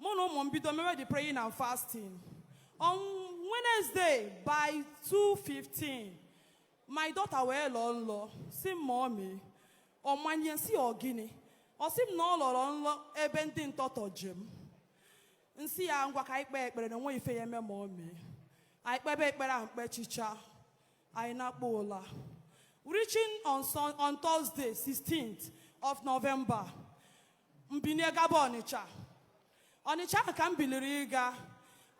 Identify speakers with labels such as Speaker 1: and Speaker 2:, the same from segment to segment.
Speaker 1: mụ na ụmụ m bido mewe the praying and fasting on Wednesday by 2:15 my daughter wee lọọ nlọ sị m mummy ọmanye nsị ọ gịnị ọ sị m na ọ lọrọ nlọ ebe ndị ntọtọ ji m nsị ya ngwa ka anyị kpee ekpere na o nwe ife ya-eme mummy anyị kpebe ekpere ahụ mkpechicha anyị nakpuo ụla reaching on, Sun- on Thursday 16th of November m binie gaba Ọnịcha Ọnịcha ahụ ka m biliri ịga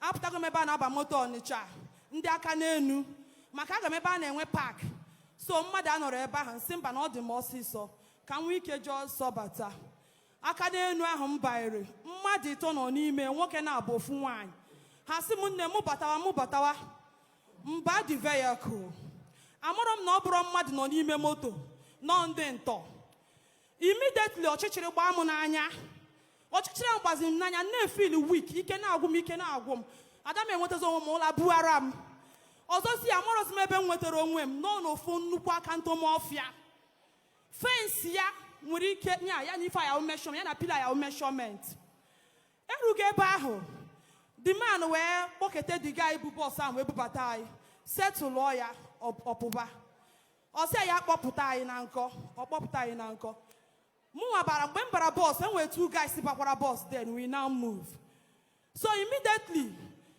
Speaker 1: apụtago m ebe a na-aba moto Ọnịcha ndị aka n'enu maka aga m ebe a na-enwe park so mmadụ anọrọ ebe ahụ nsị mba na ọ dị m ọsịsọ ka m nwee ike jee ọsọ bata aka n'enu ahụ m banyere mmadụ ịtọ nọ n'ime nwoke naabọ ofu nwaanyị ha sị m nne mụ batawa mụ batawa m baa the vehicle amarọ m na ọ bụrọ mmadụ nọ n'ime moto na ọ ndị ntọ immediately ọchịchịrị gbaa m n'anya ọchịchịrị ahụ gbaziri m n'anya na-efeel weak ike na-agwụ m ike na-agwụ m ada m enwetazi onwe m ụla bughara m ọzọzi amarọzi m ebe m nwetara onwe m nọ n'ofu nnukwu aka ntụm ọfịa fence ya nwere ike nya ya na ife a ya-awụ measurement ya na pillar a ya-awụ measurement erugo ebe ahụ the man wee kpọkete the guy bu bus ahụ wee bubata anyị settle ya ọ- ọpụba ọ sị ya kpọpụta anyị na nkọ ọ kpọpụta anyị na nkọ mụnwa bara mgbe m bara bus e nwere two guys bakwara bus then we now move so immediately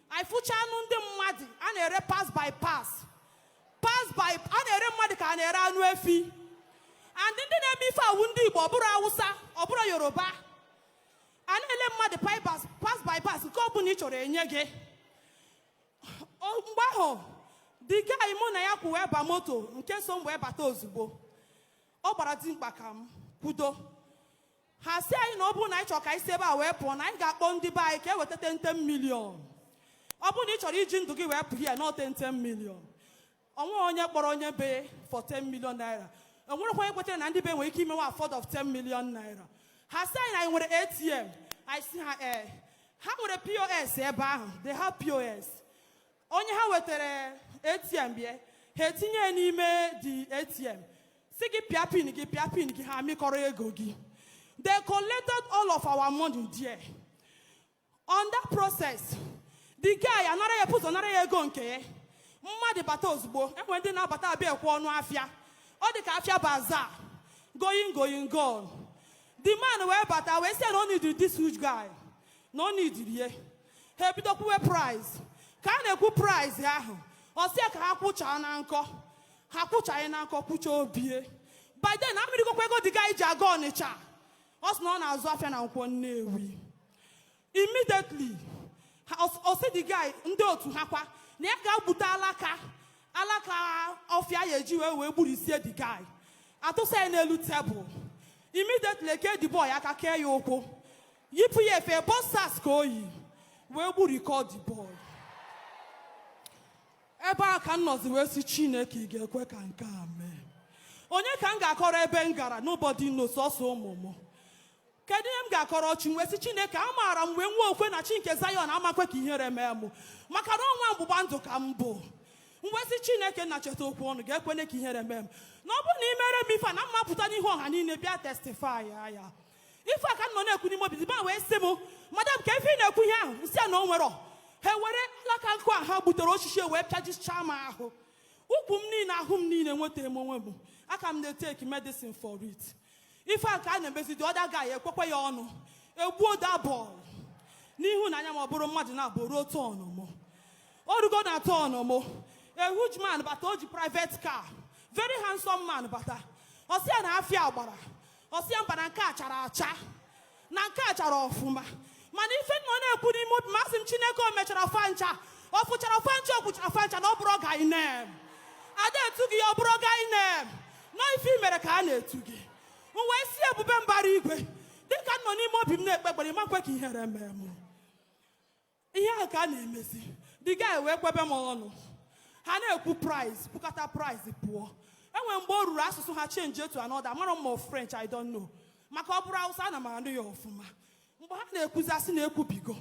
Speaker 1: ị fụcha anụ ndị mmadụ a na-ere parts by parts parts by a na-ere mmadụ ka a na-ere anụ efi and ndị na-eme ife a wụ ndị Igbo ọ bụrọ Awụsa ọ bụrọ Yoruba a na-ele mmadụ parts by parts nke ọ bụla ị chọrọ e nye gị O- mgbe ahụ the guy mụ na ya kwụ wee ba moto nke so m wee bata ozugbo ọ gbara dimkpa ka m kwudo ha sị anyị na ọ bụrụ na anyị chọrọ ka anyị si ebe a wee pụọ na anyị ga-akpọ ndị be anyị ka e weta 10 million ọ bụrụ na ị chọrọ iji ndụ gị wee pụọ ya na 10 million o nwe onye kpọrọ onye be for 10 million naira o nwerekwa onye kwetara na ndị be nwere ike imewe afford of 10 million naira ha sị anyị na anyị nwere atm anyị sị ha ee eh, ha nwere pos ebe ahụ they have pos onye ha wetara atm bịa ha etinye ya n'ime the atm sị gị pịa pin gị pịa pin gị ha amịkọrọ ego gị they collected all of our money there on that process the guy a nara ya bu ụzọ nara ya ego nke ya mmadụ bata ozugbo e nwere ndị na-abata abịa ekwe ọnụ afịa ọ dị ka afịa bazaar going going gone the man wee bata wee sị na ọ needịrị this huge guy na ọ needịrị ya ha ebido kwuwe price ka a na-ekwu price ahụ ọ sị ya ka ha kwuchaa na nkọ ha kwuchaa ya na nkọ kwucha ọ bịa by then a mịrịgokwa ego the guy ji aga Ọnịcha ọ sị na ọ na-azụ afịa na nkwọ nnewi immediately ọ sị the guy ndị otu ha kwa na ya gaa gbute alaka alaka ọfịa ya eji wee wee gburisie the guy a tụsa ya n'elu tebụl immediately e kee the boy aka kee ya ụkwụ yipụ ya efe boxers ka o yi wee gburikọ the boy ebe a ka m nọzi wee sị chineke ị ga-ekwe ka nke a mee onye ka m ga-akọrọ ebe m gara nobody knows sọsọ ụmụ m kedu ihe m ga-akọrọ chi wee sị chineke amaara m wee nwee okwukwe na chi nke zion ama-ekwe ka ihere mee mụ maka na ọ nwa mgbụgba ndụ ka m bụ m wee sị chineke nna cheta okwu ọnụ gị ekwene ka ihere mee m na ọ bụrụ na i mere m ife na m ma-apụta n'ihu ọha niile bịa testify ya ife a ka m nọ na-ekwu n'ime obi dibịa wee sị m madam ka ife ị na-ekwu ihe ahụ m sị ya na o nwerọ ha were alaka nkụ a ha gbutere osisi e wee pịajichaa m ahụ ụkwụ m niile ahụ m niile nwetara m onwe m aka m na-etake medicine for it ife a ka a na-emezi the other guy ekwekwe ya ọnụ e gbuo the boy n'ihu na anya ma ọ bụrụ mmadụ naabọ ruo turn mụ o rugo na turn mụ a huge man bata o ji private car very handsome man bata ọ sị ya na afịa gbara ọ sị ya mba na nke a chara acha na nke a chara ọfụma mana ife m nọ na-ekwu n'ime obi m asị m chineke o mechara fancha ọ fụchara fancha okwuchara fancha na ọ bụrọ ka ị na-eme ada etu gị ya ọ bụrọ ka ị na-eme na ọ ife i mere ka a na-etu gị m wee sị ebube mbara igwe dịka m nọ n'ime obi m na-ekpe ekpere ị ma-ekwe ka ihere mee m ihe a ka a na-emezi the guy wee kwebe m ọnụ ha na-ekwu price kwukata price pụọ enwere mgbe o ruru asụsụ ha change to another amarọ m ma french i don't know maka ọ bụrụ awụsa ana m anụ ya ọfụma mgbe ha na-ekwuzi a sị na e kwubigo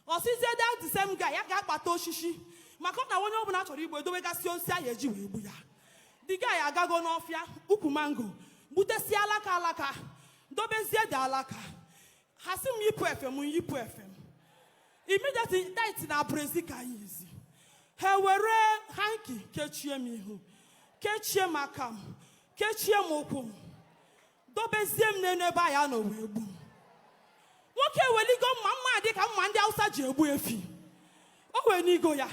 Speaker 1: ọ sịzie that the same guy ya gaa kpata osisi maka na onye ọbụla a chọrọ igbu edowegasị osisi ahụ eji wee gbu ya the guy agago n'ọfịa ukwu mango gbutesie alaka alaka dobezie the alaka ha sị m yipụ efe m yipụ efe m immediately tight na brezi ka m yizi ha were hanky kechie m ihu kechie m aka m kechie m ụkwụ m dobezie m n'elu ebe a ya-anọ wee gbu m nwoke eweligo mma mma dị ka mma ndị awụsa ji egbu efi o wenigo ya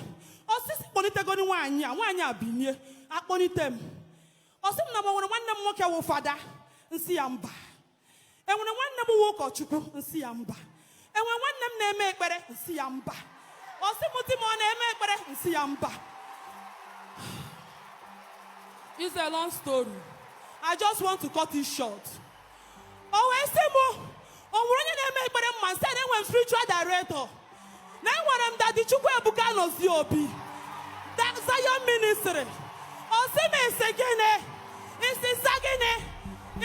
Speaker 1: ọ sị sị kpọlitegoni nwaanyị a nwaanyị a binie a kpọlite m ọ sị m na m nwere nwanne m nwoke wụ fada m sị ya mba enwere nwanne m wụ ụkọchukwu m sị ya mba enwere nwanne m na-eme ekpere m sị ya mba ọ sị m di m ọ na-eme ekpere m sị ya mba It's a long story. I just want to cut it short. O wee sị m, o nwere onye na-eme ekpere m ma, m sị ya na enwere m spiritual director. na enwere m daddy Chukwuebuka Anozie Obi that Zion Ministry ọ sị m ị sị gịnị ị sị Za gịnị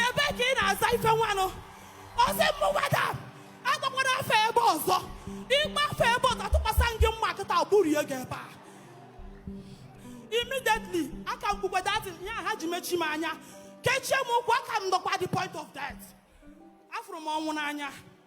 Speaker 1: ebe ka ị na-aza ife nwanụ ọ sị m madam akpọkwana afa ebe ọzọ ị kpọọ afa ebe ọzọ atụkwasị m gị mma kịta gburie gị ebe a immediately aka m kpukwe that ihe a ha ji mechi m anya kechie m ụkwụ aka m nọkwa the point of death afụrụ m ọnwụ n'anya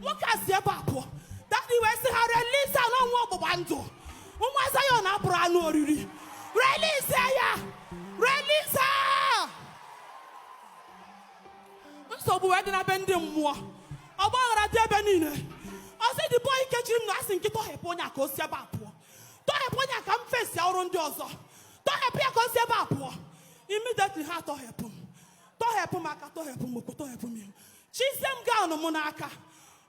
Speaker 1: nwoke a si ebe a pụọ daddy wee sị ha release ya na ọ nwa ọgbụgba ndụ nwa Zion abụrụ anụ oriri release ya release nsogbu wee dị na be ndị mmụọ ọgba aghara dị ebe niile ọ sị the boy kechiri m na-asị nke a tọhepụ onye a ka o si ebe a pụọ tọhepụ onye a ka m face ọrụ ndị ọzọ tọhepụ ya ka o si ebe a pụọ immediately ha tọhepụ m tọhepụ m aka tọhepụ m ụkwụ tọhepụ m ihu chizie m gown m n'aka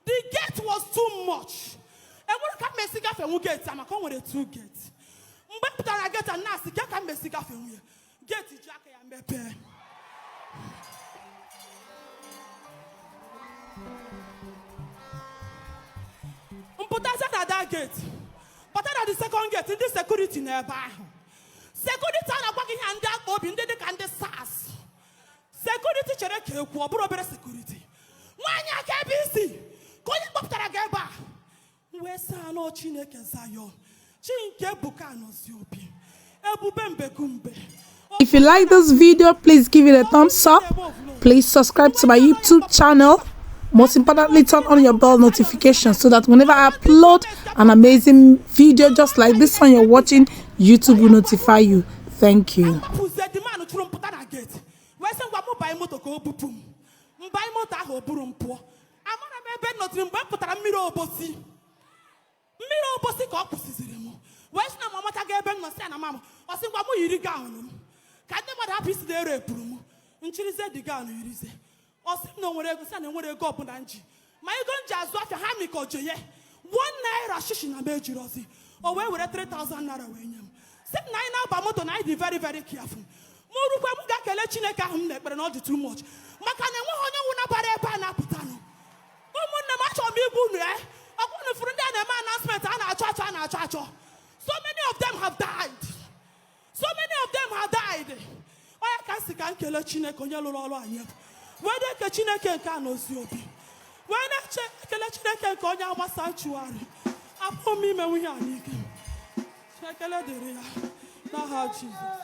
Speaker 1: the gate was too much enwere ka m mesi gafee nwu gate a maka o nwere two gates mgbe m pụtara gate a na-asị ke ka m mesi gafee nwu ya gate ji aka ya mepee m pụtazie na that gate pụta na the second gate ndị security nọ ebe ahụ security a na-agwa gị ihe ndị akpụ obi ndị dị ka ndị SARS security chere ka ekwu ọ bụrụ obere security nwaanyị a ka ebe i si ka onye kpọpụtara gị ebe a m wee sị ha na ọ chineke Zion chi nke Ebuka Anozie Obi ebube mbegumbe If you
Speaker 2: like this video, please give it a thumbs up. Please subscribe to my YouTube channel. Most importantly, turn on your bell notification so that whenever I upload an amazing video just like this one you're watching, YouTube will notify you. thank you pụzie the man ahụ chụrụ m pụta na gate wee sị ngwa m banye moto ka o bupụ m m banye moto ahụ o buru m pụọ amara m ebe m nọ till mgbe m pụtara mmiri obosi mmiri
Speaker 1: obosi ka ọ kwụsịziri m wee sị na m amatago ebe m nọ sị ya na m ma ọ sị ngwa m yiri gown m ka ndị mmadụ hapụ ịsị na ara pụrụ m m chịrịzie the gown yirizie ọ sị m na o nwere ego sị na enwere ego ọbụla m ji ma ego m ji azụ afịa ha mikọ je ya one naira shishi na m ejirọzi o wee were 3000 naira wee nye m sị m na anyị na-aba moto na anyị dị very very careful m rukwe m ga-ekele chineke ahụ m na-ekpere na ọ dị too much maka na enweghị onye nwụ nabara ebe a na-apụtanụ ụmụnne m achọrọ m ịgwa unu e ọkwa unu fụrụ ndị a na-eme announcement a na-achọ achọ a na-achọ achọ so many of them have died so many of them have died ọ ya ka m sị ka m kele chineke onye lụrụ ọrụ anyị wee na-eke chineke nke Anozie Obi wee na-eche ekele chineke nke onye nwe sanctuary apụghị m imenwu ihe a n'ike ekele dịrị ya n'aha Jesus